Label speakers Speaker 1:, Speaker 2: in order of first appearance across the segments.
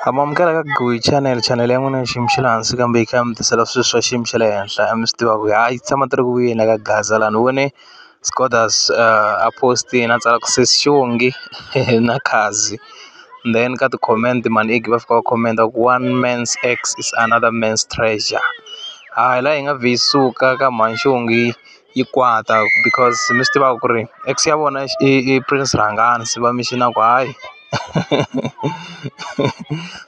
Speaker 1: A ma amukela ka Goyi channel channel ya n'wina ya xiyimo xa le hansi kambe yi kha yi mi tisela swilo swa xiyimo xa le henhla a mi swi tiva ku ha yi tshama ti ri ku vuyeni la ka gaza la ni vone Scodus a post-ini a tsala ku sesi xihongi na Khadzi then ka ti-comment mhani Iggy va fika va comment ku one man's ex is another man's treasure ha la hi nga vhi hi suka ka mhani xihongi. yi kwata because mi swi tiva ku ri ex ya vona i i prince rhangani se va mi xi na ku hayi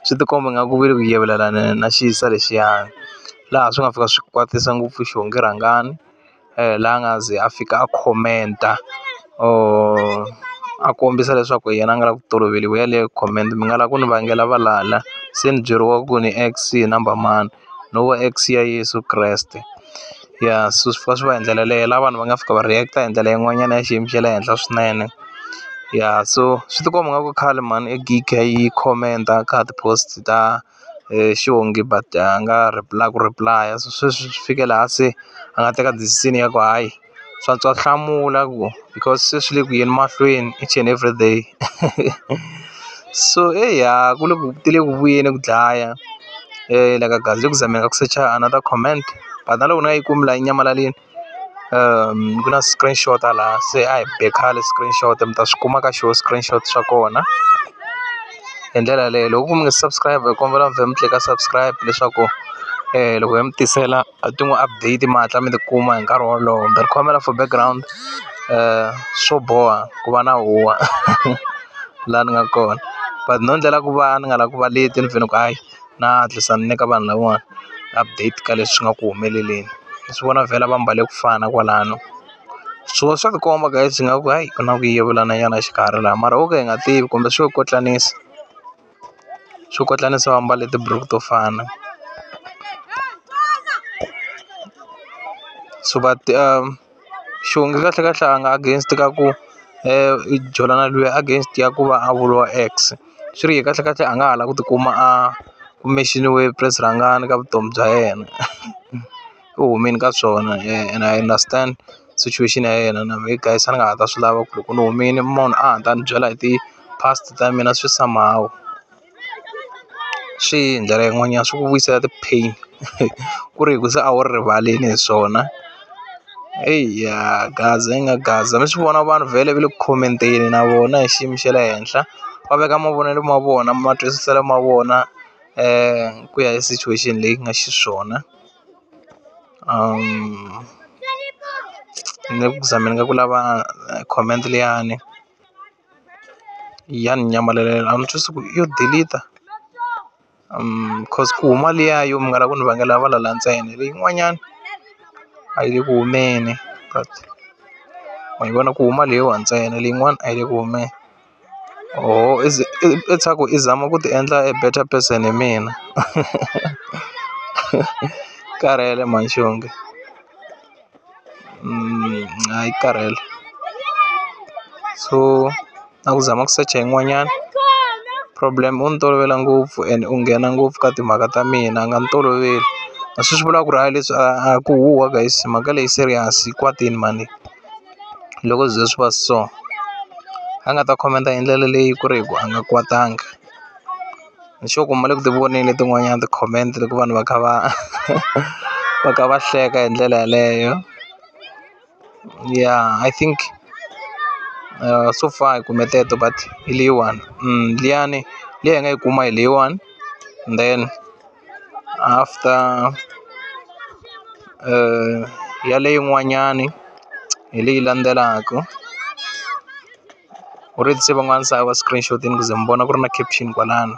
Speaker 1: swi ti komba nga ku ve le ku yivelelana na xisa lexiyani laha swi nga fika swi kwatisa ngopfu xihundla rhangani la nga ze a fika a comment-a or a kombisa leswaku yena a nga la ku toloveliwi yaleyo comment mi nga la ku ni vangela valala se ni byeriwa ku ni ex hi number mani. no vo X ya Yeso Kreste ya swi fika swi va hi ndlela yaleyo la vanhu va nga fika va react hi ndlela yin'wanyana ya xiyimo xa le henhla swinene ya so swi tikomba nga ku khale mhani e gig a yi comment-a ka ti-post ta xihungi but a nga reply ku reply-a se sweswi swi fike laha se a nga teka decision ya ku hayi. swa swa hlamula ku because se swi le ku yeni mahlweni each and everyday so eya ku le ku ti le ku vuyeni ku dlaya la ka gaza le ku zameni ka ku secha another comment but na loko ni nga yi kumi la yi nyamalalini ku na screenshot a laha se a hi be khale screenshot mi ta swi kuma ka xona screenshot xa kona hi ndlela yaleyo loko ku mi nga subscribe hi kombela mi vhela mi tlika subscribe leswaku loko hi mi tisela. a ti n'wi update mi hatla mi ti kuma hi nkarhi wolowo ni khomela for background swo boha ku va na huwa la ni nga kona but no endlela ku va ni nga la ku va leti ni fanele ku hayi na hatlisa ni nyika vanhu lavawani update ka leswi nga ku humeleleni ni swi vona vhela va mbale ku fana kwalano swo swa tikomba guys ingaku hayi ku na ku yivelana nyana exikarhi la mara ho ka hi nga tivi kumbe swo kotlanisa. swikotlana se va mbale tiburuku to fana so va ti xivongo kahle kahle a nga against ka ku i jola na lweyi against ya ku va a vuriwa ex swi ri yena kahle kahle a nga ha la ku tikuma a kume xi ni we press rhangana ka vutomi bya yena. ku humeni ka swona and I understand situation ya yena na mehe guys a ni nga ha ta swi lava ku loko ni humile munhu a ta ni byela hi ti-past ta mina swi somehow swi hi ndlela yin'wanyana swi ku vuyisela ti-pain ku ri hi ku se a wu ri rivalini hi swona eya gaza yi nga gaza mi swi vona vanhu vhele va le ku khomenteni na vona hi xiyimo xa le henhla va veka mavonelo ma vona matwisiselo ma vona ku ya hi situation leyi nga xiswona. ni nga ku za mina nga ku lava comment liyani ya ni nyamalalela a ni twisisi ku yo delete coz ku huma liya yo munghana lava ku ni vangela valala ntsena leyin'wanyani a yi le ku humeni but wa yi vona ku huma leyiwa ntsena leyin'wani a yi le ku humeni. Oho i swa ku i zama ku ti endla a better person hi mina karhele mhani xonge hayi yi karhele so na ku zama ku secha yin'wanyana problem u ni tolovela ngopfu and u nghena ngopfu ka timhaka ta mina a nga ni toloveli a swi swi vulaka ku ri hayi leswi a ku huhwa guys mhaka leyi serious yi kwatile mhani leyi. loko swi ze swi va so a nga ta khomenta hi ndlela leyi ku ri hi ku a nga kwatanga ni sure ku ma le ku ti voneni letin'wanyani ti-comment loko vanhu va kha va va kha va hleka hi ndlela yeleyo ya I think so far hi kume teto but hi leyiwani liyani liya hi nga yi kuma hi leyiwani then. after yaleyo yin'wanyani hi leyi landzelaka u ri se van'wana se a va screen shotini ku ze mi vona ku ri na caption kwalano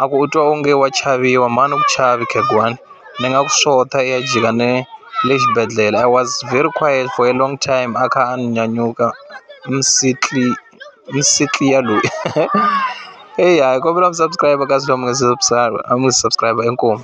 Speaker 1: a ku u twa onge wa chaviwa mhani u ku chavi khegwani ni nga ku xota i ya jika ne le xibedhlele I was very quiet for a long time a kha a ni nyanyuka ni . Msitlia loyi hey hayi hi kombela ku subscribe kasi loyi a nga se subscribe a mi subscribe inkomu.